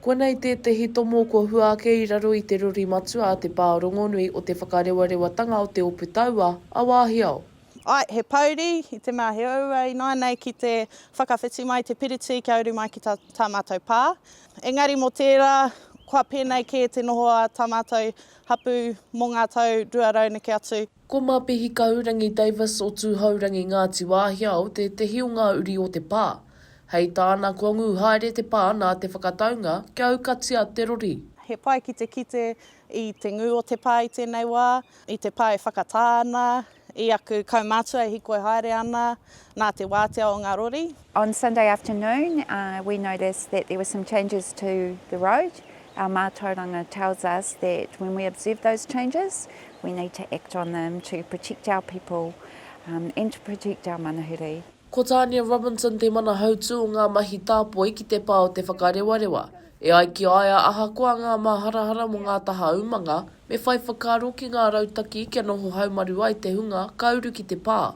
Koinei tētehi tomo kua hua ake i raro i te rori matua a te pā rongonui o Te Whakarewatanga o Te Opu Taua a Wāhiao. Ae, he pouri, i te mea he ouau ināianei ki te whakawhiti mai te piriti kia uru mai ki tā, tā mātou pā. Engari mō tērā, kua pēnei kē te noho a tā mātou hapū mō ngā tau rua rau neke atu. Ko Mapihi Kahurangi Davis o Tūhourangi Ngāti Wāhiao tētehi o ngā uri o te pā. Hei tāna kua ngū haere te pā nā te whakataunga kia aukatia te rori. He pai ki te kite i te ngū o te pā i tēnei wā, i te pā e whakatā ana i aku kaumātua e hīkoi haere ana nā te wātea o ngā rori. On Sunday afternoon we noticed that there were some changes to the road, our mātauranga tells us that when we observe those changes we need to act on them to protect our people and to protect our manuhiri. Ko Tania Robinson te mana hautū o ngā mahi tāpoi ki te pā o Te Whakarewarewa. E ai ki a ia ahakoa ngā māharahara mō ngā taha umanga, me whai whakaaro ki ngā rautaki kia noho haumaru ai te hunga ka uru ki te pā.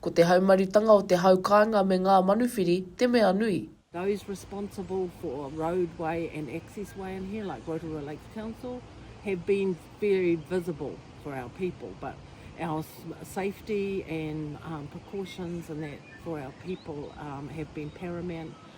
Ko te haumarutanga o te hau kāinga me ngā manuwhiri te mea nui. Those responsible for roadway and access way in here, like Rotorua Lakes Council, have been very visible for our people, but our safety and precautions and that for our people have been paramount.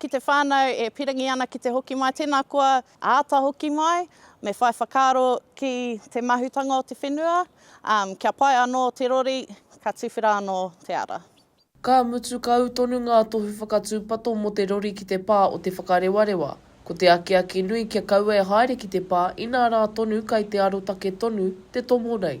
Ki te whānau e pirangi ana ki te hoki mai, tēnā koa āta hoki mai, me whai whakaaro ki te mahutanga o te whenua, kia pai anō te rori, ka tuwhera anō te ara. Ka mutu kau tonu ngā tohu whakatūpato mō te rori ki te pā o Te Whakarewarewa. Ko te akiaki nui kia kaua e haere ki te pā inā rā tonu kai te arotake tonu te tomo nei.